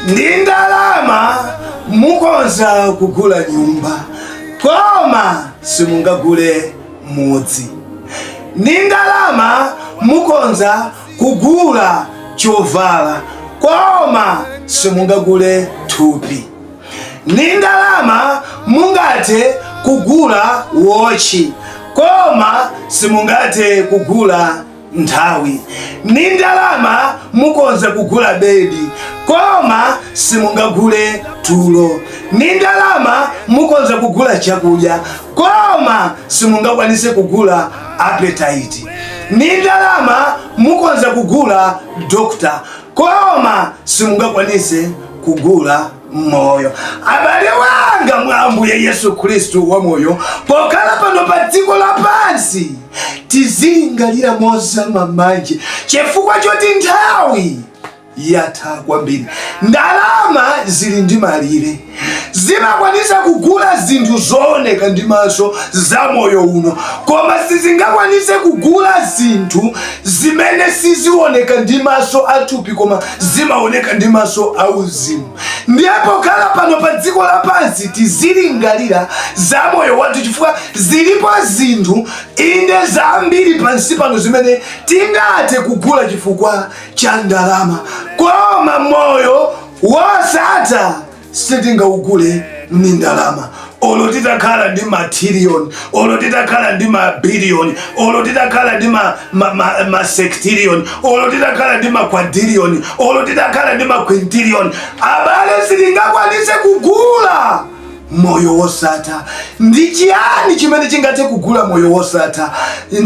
ndi ndalama mukhoza kugula nyumba koma simungagule mudzi ndi ndalama mukhoza kugula chovala koma simungagule thupi ndi ndalama mungathe kugula wochi koma simungathe kugula nthawi ni ndalama mukonza kugula bedi koma simungagule tulo ni ndalama mukonza kugula chakudya koma simungakwanise kugula appetite ni ndalama mukonza kugula dokota koma simungakwanise kugula moyo abale wanga mwa ambuye yesu khristu wa moyo pokhala pano pa dziko lapansi tizilingalira mozama bwanji chifukwa choti nthawi yatha kwambiri ndalama zili ndi malire zimakwanisa kugula zinthu zooneka ndi maso za moyo uno koma sizingakwanise kugula zinthu zimene sizioneka ndi maso athupi koma zimaoneka ndi maso auzimu ndiye pokhala pano pa dziko lapansi tizilingalira za moyo wathu chifukwa zilipo zinthu inde zambiri pansi pano zimene tingathe kugula chifukwa cha ndalama koma moyo wosatha sitingaugule ndi ndalama olo titakhala ndi matiriyoni olo titakhala ndi mabiliyoni olo titakhala ndi masektiriyoni olo titakhala ndi makwadiriyoni olo titakhala ndi makwintiriyoni abale sitingakwanise kugula moyo wosatha ndi chiyani chimene chingathe kugula moyo wosatha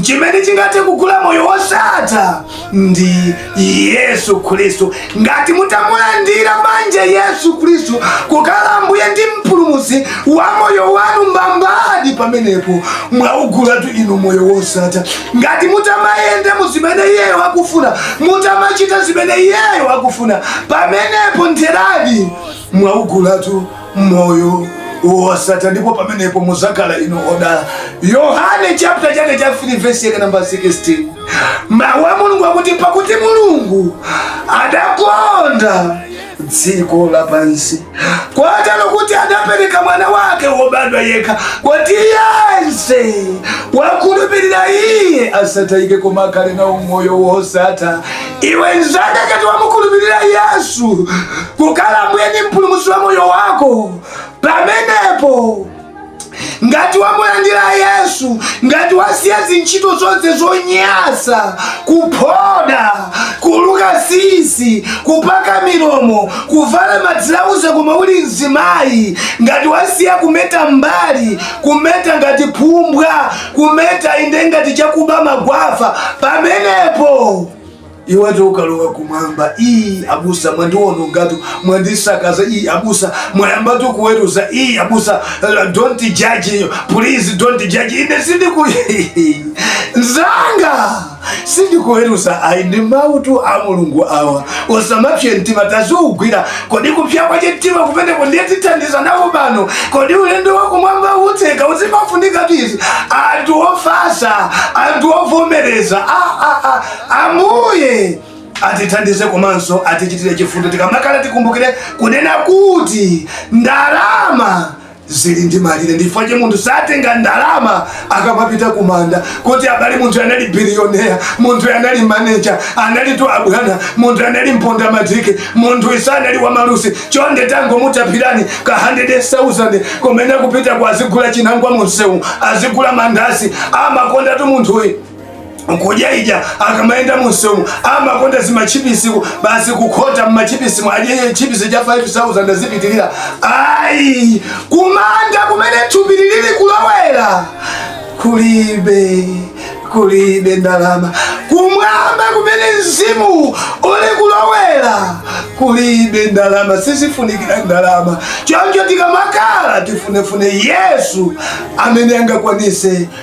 chimene chingathe kugula moyo wosatha ndi yesu khristu ngati mutamulandira manje yesu khristu kukhala mbuye ndi mpulumusi wa moyo wanu mbambadi pamenepo mwaugulatu inu moyo wosatha ngati mutamayenda mu zimene iyeyo akufuna mutamachita zimene iyeyo akufuna pamenepo ntheradi mwaugulatu moyo wosatha ndipo pamenepo muzakhala inu odala yohane chapter chake cha 3 vesi yake namba 16 mawu a mulungu akuti pakuti mulungu adakonda dziko lapansi kotero kuti adapereka mwana wake wobadwa yekha kuti yense wakhulupirira iye asatayike koma akhale nawo moyo wosatha iwe nzanga ngati wamukhulupirira yesu kukhala mbuye ndi mpulumutsi wa moyo wako pamenepo ngati wamulandira yesu ngati wasiya zintchito zonse zonyasa kuphoda kuluka sisi kupaka milomo kuvala madzilauze koma uli mzimayi ngati wasiya kumeta m'mbali kumeta ngati phumbwa kumeta inde ngati chakuba mukafa pamenepo iwe ukalowa kumwamba iyi abusa mwandiwonongatu mwandisakaza iyi abusa mwayambatu kuweruza iyi abusa uh, don't judge please don't judge ine sindikuweruza nzanga sindikuweruza ayi ndi mawutu a mulungu awa usamapse mtima taziugwira kodi kupsa kwachimtima kumeneko nditithandiza nawo pano kodi ulendo wakumwamba utseguka zimafunika tizi anthu ofatsa anthu ovomereza a- a- a- ambuye atithandize komanso atichitire chifundo tikamakhala tikumbukire kunena kuti ndalama zili ndi malire ndi chifukwa chake munthu satenga ndalama akamapita kumanda kuti abale munthu anali biliyonea munthu anali maneja anali tu abwana munthu anali mponda matike munthuyu sanali wamalunsi chonde tangomutapirani ka 100000 kumene kupita kwa azigula chinangwa mumsewu azigula mandasi amakondatu munthuyu mkujaija akamayenda mumsewumu amakonda zamachipisitu basi kukhota mmachipisi andichajeni chipisi cha 5000 nzipitirira ayi kumanda kumene thupi lilili kulowera kulibe kulibe ndalama kumwamba kumene mzimu uli kulowera kulibe ndalama sizifunikira ndalama choncho tikamakhala tifunefune yesu amene angakwanise